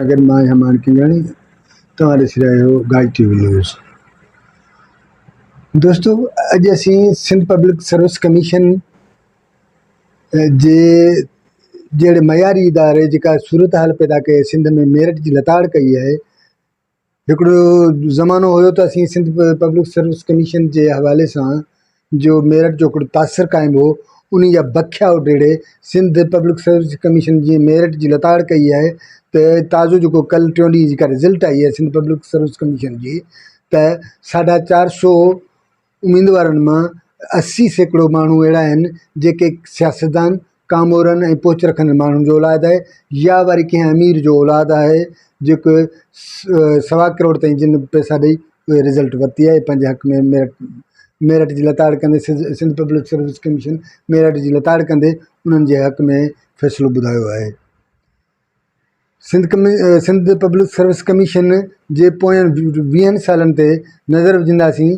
اگر مان يا مانڪينگاڻي توهان ڏسي رهيا آهيو گاج ٽي وي نيوز دوستو اڄ اسين سنڌ پبلڪ سروس ڪميشن جي جهڙي معياري اداري جيڪا صورتحال پيدا ڪئي سنڌ ۾ ميرٽ جي لتاڙ ڪئي آهي هڪڙو زمانو هيو ته اسين سنڌ پبلڪ سروس ڪميشن جي حوالي سان جو ميرٽ جو هڪڙو تاثر قائم هو ان جا بکيا اڊيڙي سنڌ پبلڪ سروس ڪميشن جي ميرٽ جي لتاڙ ڪئي آهي ته تازو جيڪو ڪل ٽيون ڏينهن جيڪا رزلٽ آئي آهي سنڌ پبلڪ سروس ڪميشن جي ته ساڍا چار سو اميدوارن مان اسي سيڪڙو ماڻهو اهڙا آهن جيڪي سياستدان، ڪامورن ۽ پهچ رکندڙ ماڻهن جو اولاد آهي يا وري ڪنهن امير جو اولاد آهي جيڪو سوا ڪروڙ تائين جن پئسا ڏئي اهي رزلٽ ورتي آهي پنهنجي حق ۾ ميرٽ ميرٽ جي لتاڙ ڪندي Sindh public service commission merit جي لتاڙ ڪندي انهن جي حق ۾ فيصلو ٻڌايو آهي سنڌ پبلڪ سروس ڪميشن جي پوين ويهن سالن تي نظر وجهنداسين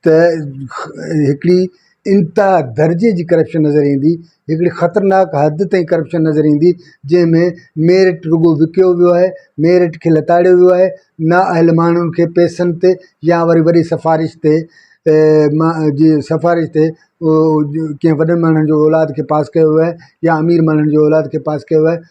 ته هڪڙي انتها درجي جي ڪرپشن نظر ايندي هڪڙي خطرناڪ حد تائين ڪرپشن نظر ايندي جنهن ۾ ميرٽ رڳو وڪيو ويو آهي ميرٽ کي لتاڙيو ويو آهي نا اهل ماڻهن کي پئسن تي يا وري وڏي سفارش تي جي سفارش تي ڪنهن وڏن ماڻهن جو اولاد کي پاس ڪيو ويو آهي يا امير ماڻهن جي اولاد کي پاس ڪيو ويو آهي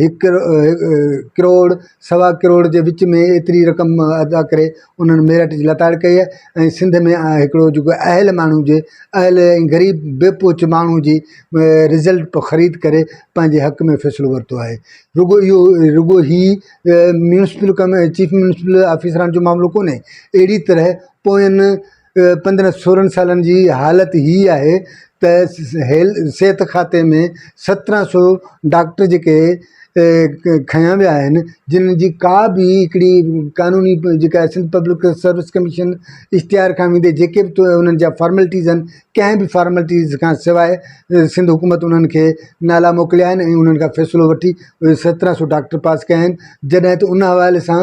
هڪ ڪروڙ سوا ڪروڙ جي وچ ۾ ايتري رقم ادا ڪري انهن ميرٽ جي لتاڙ ڪئي آهي ۽ سنڌ ۾ هڪڙو جيڪو اهل ماڻهو جي اهل ۽ غريب بي پهچ ماڻهو جي رزلٽ پيو خريد ڪري پنهنجي حق ۾ فيصلو ورتو آهي رڳو اهو رڳو هي ميونسپل ڪم چيف ميونسپل آفيسران جو معاملو ڪونهي اهڙي طرح پوين پندرهن سورهن سالن جي حالت هي آهي ته صحت کاتي ۾ سترهن سو ڊاڪٽر جيڪي کنيا ويا آهن جن جي ڪا به هڪڙي قانوني جيڪا سنڌ پبلڪ سروس ڪميشن اشتهار کان ويندي جيڪي بي انهن جا فارملٽيز آهن ڪنهن به فارملٽيز کان سواء سنڌ حڪومت انهن کي نالا موڪليا آهن ۽ انهن کان فيصلو وٺي سترهن سو ڊاڪٽر پاس ڪيا آهن جڏهن ته ان حوالي سان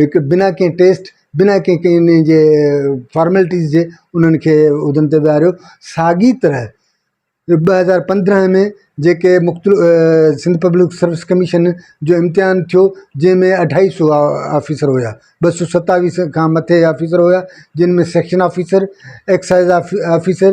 هڪ بنا ڪنهن ٽيسٽ بنا ڪنهن ڪنهن ان جي فارملٽيز جي انهن کي عهدن تي ويهاريو ساڳي طرح ٻ هزار پندرهن ۾ جيڪي مختلف سنڌ پبلڪ سروس ڪميشن جو امتحان ٿيو جنهن ۾ اڍائي سو آفيسر هيا ٻه سو ستاويھ کان مٿي آفيسر هيا جن ۾ سيڪشن آفيسر ايڪسائز آفيسر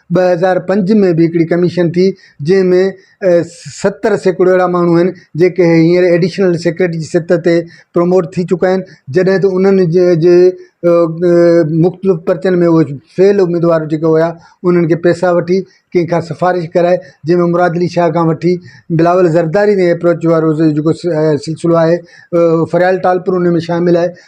ٻه هزار پنج ۾ به هڪڙي ڪميشن ٿي جنهن ۾ ستر سيڪڙو اهڙا ماڻهو آهن جيڪي هينئر ايڊيشنل سيڪريٽري جي سطح تي پروموٽ ٿي چڪا آهن جڏهن ته انهن جي جي مختلف پرچن ۾ اهي فيل اميدوار جيڪي هيا انهن کي پيسا وٺي ڪنهن کان سفارش ڪرائي جنهن ۾ مراد علي شاهه کان وٺي بلاول زرداري تائين ايپروچ وارو جيڪو سلسلو آهي فريال ٽالپر ان ۾ شامل آهي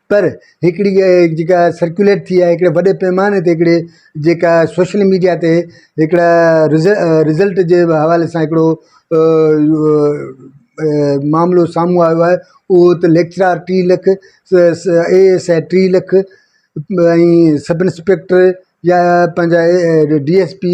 پر هڪڙي جيڪا سرڪيوليٽ ٿي آهي هڪڙي وڏي پئماني تي هڪڙي جيڪا سوشل ميڊيا تي هڪڙا رزلٽ جي حوالي سان هڪڙو معاملو سامهون آيو آهي اهو هت ليڪچرار ٽي لک اي ايس آء ٽي لک ۽ سب انسپيڪٽر يا پنهنجا ڊي ايس پي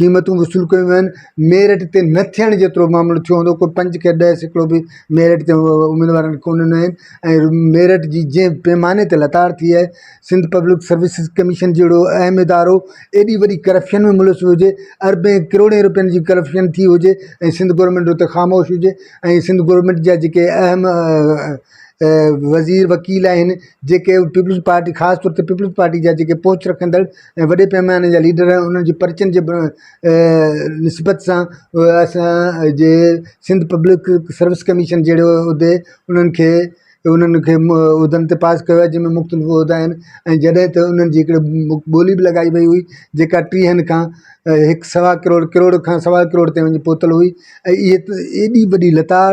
قيمتون وصول ڪيون ويون آهن ميرٽ تي نه ٿيڻ جيترو معاملو ٿيو هوندو ڪو پنج کي ڏهه سيڪڙو به ميرٽ تي اميدوارن کي ڪونه ڏنو آهن ۽ ميرٽ جي جنهن پيماني تي لتاڙ ٿي آهي سنڌ پبلڪ سروسز ڪميشن جهڙو اهم ادارو ايڏي وڏي ڪرپشن ۾ ملوث هجي اربين ڪروڙين روپين جي ڪرپشن ٿي هجي ۽ سنڌ گورنمينٽ اتي خاموش هجي ۽ سنڌ گورنمينٽ جا جيڪي اهم وزير وڪيل آهن جيڪي پيپلز پارٽي خاص طور تي پيپلز پارٽي جا جيڪي پهچ رکندڙ ۽ وڏي پيماني جا ليڊر آهن انهن جي پرچن جي نسبت سان اسان جي سنڌ پبلڪ سروس ڪميشن جهڙي عهدي انهن کي انهن کي عهدن تي پاس ڪيو آهي جن ۾ مختلف عهدا آهن ۽ جڏهن ته انهن جي هڪڙي ٻولي به لڳائي وئي هئي جيڪا ٽيهن کان هڪ سوا ڪروڙ ڪروڙ کان سوا ڪروڙ تائين وڃي پهتل هئي ۽ اهي ايڏي وڏي لتاڙ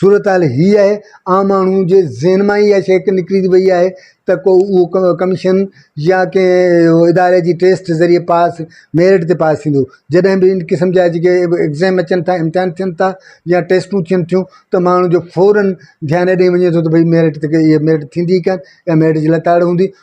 صورتحال هي آهي، عام ماڻهو جي ذهن مان ئي اها شيء هڪ نڪري ٿي وئي آهي ته ڪو اهو ڪميشن يا ڪنهن اداري جي ٽيسٽ ذريعي پاس ميرٽ تي پاس ٿيندو جڏهن به ان قسم جا جيڪي ايگزام اچن ٿا امتحان ٿين ٿا يا ٽيسٽون ٿين ٿيون ته ماڻهو جو فوراً ڌيان ڏئي وڃي ٿو ته ڀئي ميرٽ تي ڪيئي ميرٽ ٿيندي ڪانه يا ميرٽ جي لتاڙ هوندي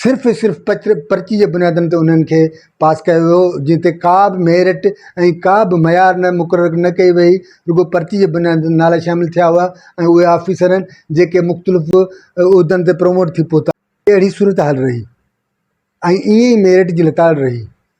صرف ۽ صرف پرچي جي بنيادن تي انهن کي پاس ڪيو ويو جنهن تي ڪا به ميرٽ ۽ ڪا به معيار نه مقرر نه ڪئي وئي رڳو پرچي جي بنيادن تي نالا شامل ٿيا هئا ۽ اهي آفيسر جيڪي مختلف عهدن تي پروموٽ ٿي پهتا اهڙي صورتحال رهي ۽ ائين ئي ميرٽ جي لتاڙ رهي.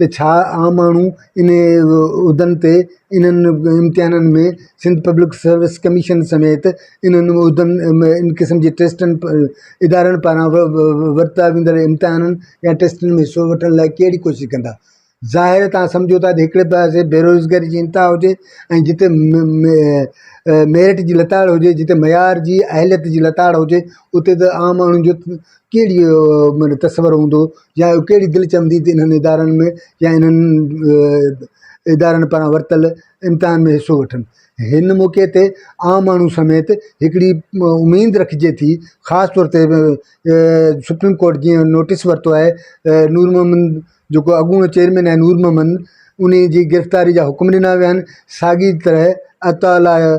ته ڇا عام ماڻهو انهن عهدن تي انهن امتحانن ۾ سنڌ پبلڪ سروس ڪميشن سميت انهن عهدن ۾ ان قسم جي ٽيسٽن ادارن پاران ورتا ويندڙ امتحانن يا ٽيسٽن ۾ حصو وٺڻ لاء ڪهڙي ڪوشش ڪندا ظاهر تان سمجهو ٿا ته هڪڙي پاسي بيروزگاري جي انتها هجي ۽ جتي ميرٽ جي لتاڙ هجي جتي معيار جي اهليت جي لتاڙ هجي اتي ته عام ماڻهن جو ڪهڙي معنيٰ تصور هوندو يا ڪهڙي دل چوندي ته انهن ادارن ۾ يا انهن ادارن پاران ورتل امتحان ۾ حصو وٺن هن موقعي تي عام ماڻهو سميت هڪڙي اميد رکجي ٿي خاص طور تي سپريم ڪورٽ جيئن نوٽيس ورتو آهي نور محمد جيڪو اڳوڻو چيئرمين آهي نور محمد انهي جي گرفتاري جا حڪم ڏنا ويا آهن ساڳي طرح عطاء الله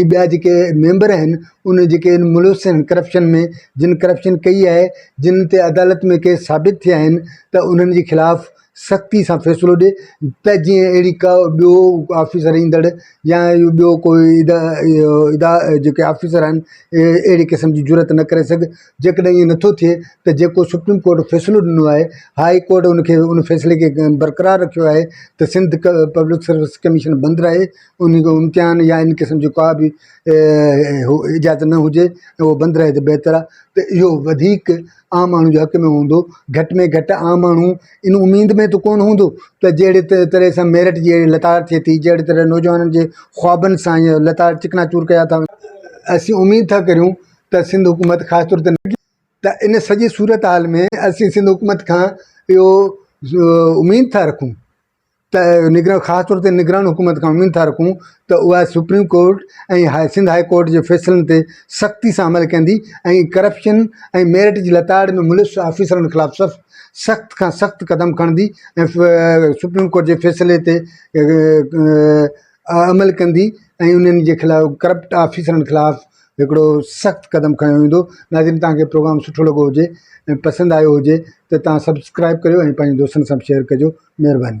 ۽ ٻيا جيڪي ميمبر آهن انهن جيڪي ان ملوث آهن ڪرپشن ۾ جن ڪرپشن ڪئي آهي جن تي عدالت ۾ ڪيس ثابت ٿيا آهن ته انهن جي خلاف سختي سان فيصلو ڏي ته جيئن اهڙي ڪا ٻيو آفيسر ايندڙ يا اهو ٻيو ڪوئي ادا اهو ادا جيڪي آفيسر آهن اهي اهڙي قسم جي جرئت نه ڪري سگهي جيڪڏهن ائين نه ٿو ٿئي ته جيڪو سپريم ڪورٽ فيصلو ڏنو آهي هائي ڪورٽ ان کي ان فيصلي کي برقرار رکيو آهي ته سنڌ ڪ پبلڪ سروس ڪميشن بند رهي ان جو امتحان يا ان قسم جو ڪا به اجازت نه هجي ته هو بند رهي ته بهتر آهي ته اهو وڌيڪ عام ماڻهو جي حق ۾ هوندو گهٽ ۾ گهٽ عام ماڻهو ان اميد ۾ ته ڪونه هوندو ته جهڙي ت طرح سان ميرٽ جي اهڙي لتاڙ ٿئي ٿي جهڙي طرح نوجوانن جي خوابن سان ائين لتاڙ چڪنا چور ڪيا ٿا وڃن اسين اميد ٿا ڪريون ته سنڌ حڪومت خاص طور تي ته ان سڄي صورتحال ۾ اسين سنڌ حڪومت کان اهو اميد ٿا رکون. ته نگران خاص طور تي نگران حڪومت کان اميد ٿا رکون ته اها supreme court ۽ Sindh high court جي فيصلن تي سختي سان عمل ڪندي ۽ ڪرپشن ۽ ميرٽ جي لتاڙ ۾ ملوث آفيسرن خلاف سخت کان سخت قدم کڻندي ۽ سپريم ڪورٽ جي فيصلي تي عمل ڪندي ۽ انهن جي خلاف ڪرپٽ آفيسرن خلاف هڪڙو سخت قدم کنيو ويندو ناظرين توهان کي پروگرام سٺو لڳو هجي ۽ پسند آيو هجي ته توهان سبسڪرائب ڪريو ۽ پنهنجي دوستن سان به شيئر ڪجو مهرباني.